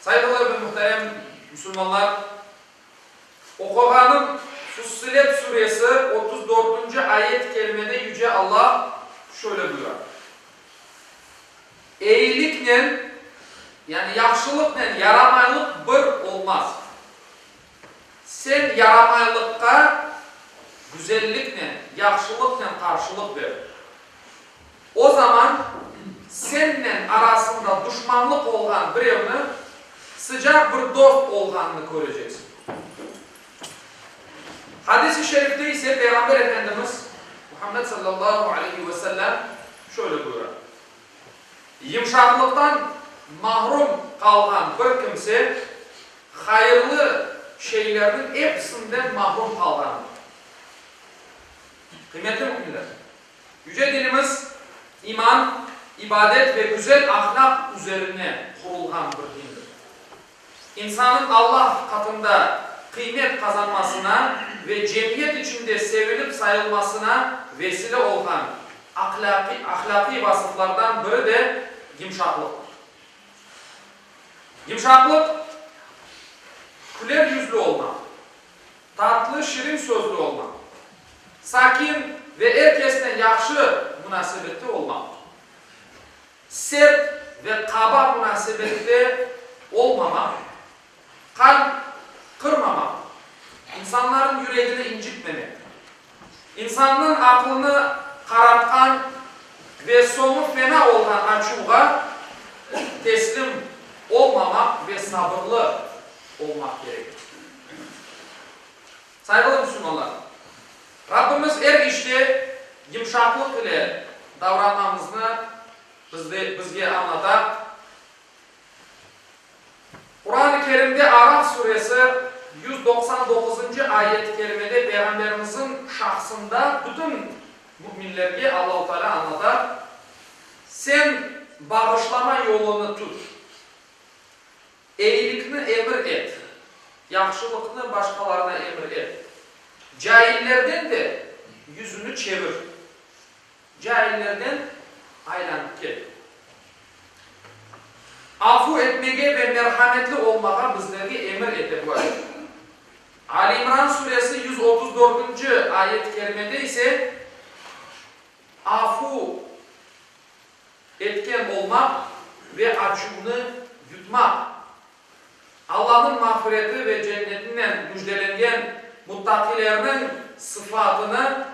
Saygılı ve muhterem musulmanlar! Oquğanım Fussilet Suresi otuz dörtünci ayet-i kerimede Yüce Alla şöyle buyura, Eyiliknen, yani yahşılıqnen yaramaylıq bir olmaz. Sen yaramaylıqqa güzelliknen, yahşılıqnen qarşılıq ber. O zaman sennen arasında duşmanlıq olğan birevni sıcaq bir dost olğanını köreceksiñ. Hadis-i şerifte ise Peyğamber Efendimiz Muhammed sallallahu aleyhi ve sellem şöyle buyura, Yımşaqlıqtan mahrum qalğan bir kimse hayırlı şeylerniñ episinden mahrum qalğandır. Qıymetli müminler! Yüce dinimiz iman, ibadet ve güzel ahlâq üzerine qurulğan bir dindir. İnsannıñ Alla qatında qıymet qazanmasına ve cemiyet içinde sevilip sayılmasına vesile olğan ahlâqiy vasıflardan biri de yımşaqlıqtır. Yımşaqlıq, küler yüzlü olmaq, tatlı, şirin sözlü olmaq, sakin ve er kesnen yahşı munasebetli olmaqtır. Sert ve qaba munasebette olmamaq, qalp qırmamaq, insanların yüregini incitmemek, insannıñ aqlını qaratqan ve soñu fena olğan açuvğa teslim olmamaq ve sabırlı olmaq kerektir. Sayılı müsülmanlar! Rabbimiz er işte yımşaqlıq ile davranmamıznı bizde, bizge añlata. Quran-ı Kerimde Araf suresi yüz doqsan doquzıncı ayet-i kerimede Peyğamberimiziñ şahsında bütün müminlerge Allahu Teala añlata, Sen bağışlama yolunı tut. Eyilikni emir et, yahşılıqnı başqalarına emir et, caillerden de yüzüni çevir, caillerden aylanıp ket. Afu etmege ve merhametli olmağa bizlerge emir ete bu ayet. Ali İmran Suresi yüz otuz dördünci ayet-i kerimede ise afu etken olmaq ve açuvnı yutmaq. Allanıñ mağfireti ve cennetinen müjdelengen muttaqilerniñ sıfatını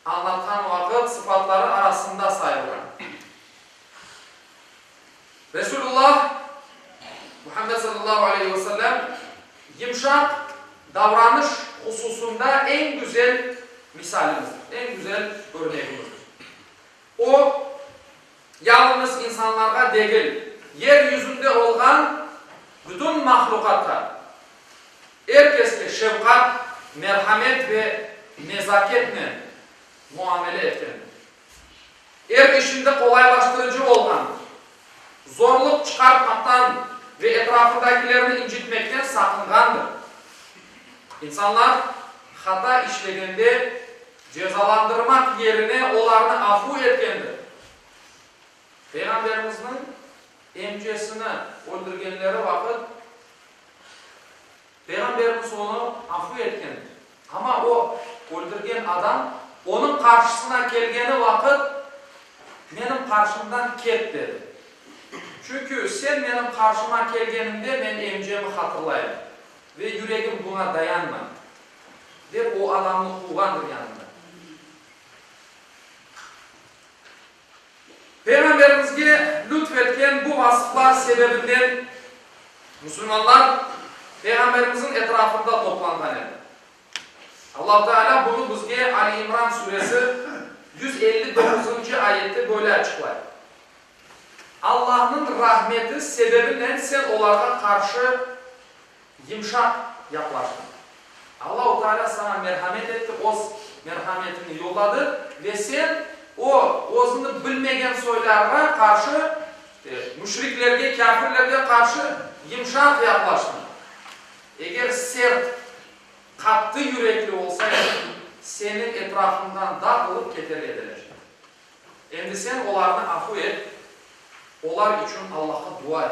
añlatqan vaqıt sıfatları arasında sayılğan Resulullah Muhammed sallallahu aleyhi ve sellem yımşaq davranış hususında eñ güzel misalimizdir, eñ güzel örnegimizdir. O, yalıñız insanlarğa degil, yer yüzünde olğan bütün mahluqatqa, er keske şefqat, merhamet ve nezaketnen muamele etkendir. Er işinde qolaylaştırıcı olğan, zorluq çıqartmaqtan ve etrafındakilerni incitmekten saqınğandır. İnsanlar hata işlegende Cezalandırmaq yerine olarnı afu etkendir. Peyğamberimizniñ emcesini öldürgenleri vaqıt Peyğamberimiz onı afu etkendir. Amma o, öldürgen adam, onıñ qarşısına kelgeni vaqıt, Menim qarşımdan ket! dedi. Çünki sen menim qarşıma kelgeniñde men emcemi hatırlayım ve yüregim buña dayanmay. Dep o adamnı quvğandır yanından. Peyğamberimizge lütf etken bu vasıflar sebebinden musulmanlar Peyğamberimizniñ etrafında toplanğan edi. Allahu Teala bunı bizge Ali İmran suresi yüz elli doquzıncı ayette böyle açıqlay, Allahnıñ rahmeti sebebinen sen olarğa qarşı Yımşaq yaqlaştım. Allau Taalâ saña merhamet etti, Oz merhametini yolladı ve sen o, özüni bilmegen soylarğa qarşı, müşriklerge, kâfirlerge qarşı yımşaq yaqlaştıñ. Eger sert, qattı yürekli olsaydıñ, seni etrafından dağılıp keter ediler. Endi sen olarnı afu et, olar içün Allahqa dua et.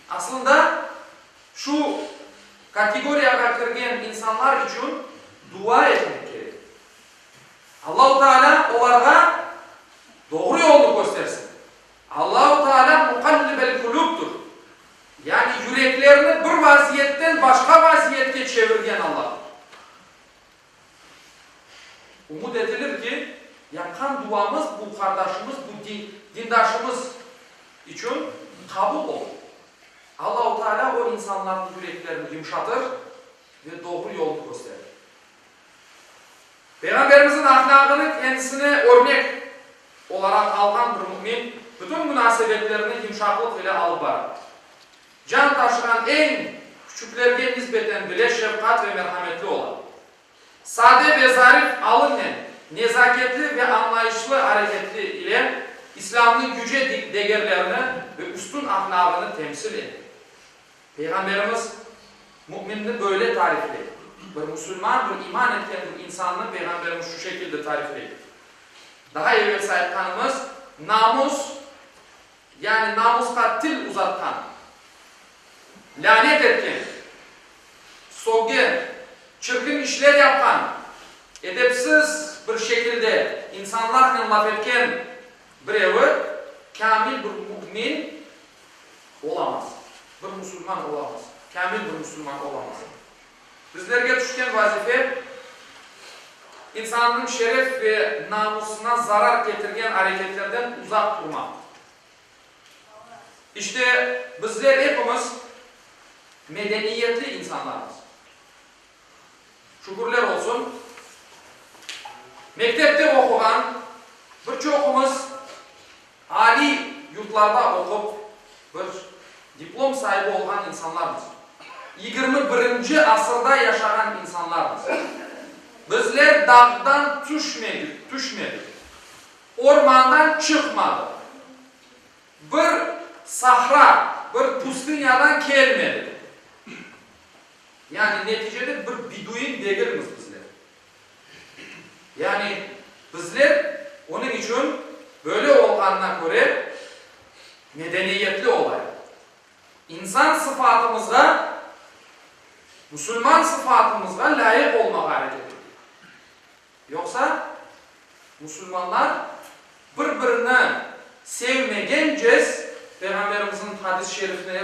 Asılında, şu kategoriyağa kirgen insanlar içün dua etmek kerek. Allahu Taalâ olarğa doğru yolnı köstersin. Allahu Taalâ Muqallibel-Kulubdur, yani yüreklerni bir vaziyetten başqa vaziyetke çevirgen Allahdır. Umut etilir ki, yapqan duamız bu qardaşımız, bu dindaşımız içün qabul olur. Allahu Teala o insanlarnıñ yüreklerini yumşatır ve doğru yolnı kösterir. Peyğamberimizniñ ahlâgını kendisine örnek olaraq alğan bir mümin bütün munasebetlerini yumşaqlıq ile alıp barar. Can taşığan eñ küçüklerge nisbeten bile şefqat ve merhametli ola. Sade ve zarif alınen, nezaketli ve añlayışlı areketi ile İslâmnıñ yüce degerlerini ve üstün ahlâgını temsil ete. Peyğamberimiz müminni böyle tarifley, Bir musulman, bir iman etken bir insannı Peyğamberimiz şu şekilde tarifley, Daha evelsi aytqanımız, namus, Yani namusqa til uzatqan, lânet etken, soggen, çirkin işler yapqan, edepsiz bir şekilde insanlarnen laf etken birevi kâmil bir mü'min olamaz, bir musulman olamaz, kâmil bir musulman olamaz. Bizlerge tüşken vazife, insannıñ şeref ve namusına zarar ketirgen areketlerden uzaq turmaq. İşte, bizler epimiz medeniyetli insanlarmız. Şükürler olsun, mektepte oquğan bir çoqumız, Aliy yurtlarda oqup, bir diplom saibi olğan insanlarmız. Yigirmi birinci asırda yaşağan insanlarmız. Bizler dağdan tüşmedik, tüşmedik, ormandan çıqmadıq, bir sahra, bir püstünyadan kelmedik. Yani neticede bir biduin degilmiz bizler. Yani, bizler onıñ içün böyle olğanına köre medeniyetli olayıq. İnsan sıfatımızğa, musulman sıfatımızğa lâyıq olmağa areket etek. Yoqsa, musulmanlar bir-birini sevmegen cez, Peyğamberimizniñ hadis-şerifini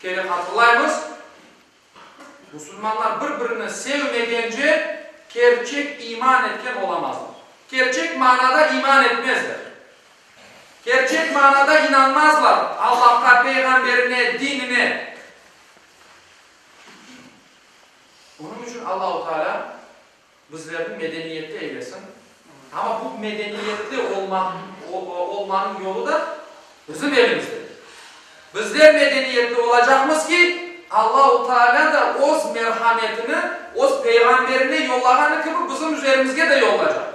kere hatırlaymız, Musulmanlar bir-birini sevmegence, kerçek iman etken olamazlar. Kerçek manada iman etmezler. Kerçek manada inanmazlar Allahqa, peyğamberine, dinine. Bunıñ içün Allahu Teala. Bizlerni medeniyetli eylesin. Amma bu medeniyetli olmanıñ yolu da bizim elimizde. Bizler medeniyetli olacaqmız ki, Allahu Taalâ da öz merhametini öz peyğamberine yollağanı kibi bizim üzerimizge de yollacaq.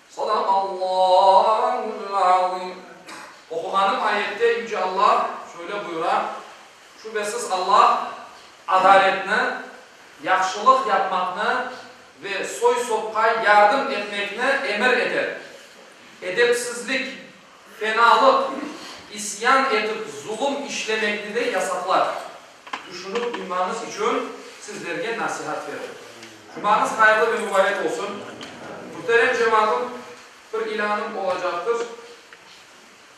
Sadaqallâhul azim. Oquğanım ayette Yüce Alla şöyle buyura, Şübesiz Alla adaletni, yahşılıq yapmaqnı ve soy-sopqa yardım etmekni emir ete. Edepsizlik, Fenalıq, isyan etip zulum işlemekni de yasaqlar. Tüşünip duymañız içün sizlerge nasihat berim. Cumañız hayırlı ve mübarek olsun. Muhterem cemaatım, bir ilânım olacaqtır.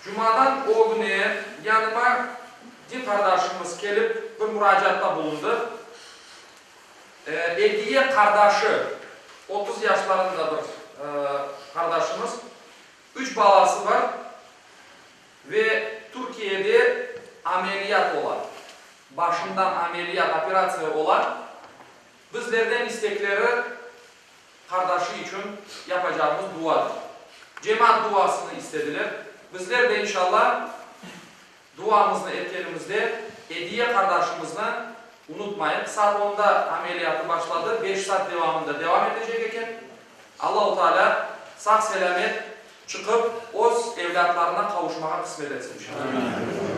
Cumadan ögüne yanıma din qardaşımız kelip, bir muracaatta bulundı. Ediye qardaşı, otuz yaşlarında bir qardaşımız. Üç balası bar ve Türkiyede ameliyat ola. Başından ameliyat, operatsiya ola. Bizlerden istekleri, qardaşı içün yapacağımız duadır. Cemaat duasını istediler. Bizler de, inşallah. Duamıznı etkenimizde Ediye qardaşımıznı unutmayıq. Saat onda ameliyatı başladı, beş saat devamında devam etecek eken. Allau Taalâ sağ-selâmet çıqıp, öz evlâtlarına qavuşmağa qısmet etsin, inşallah.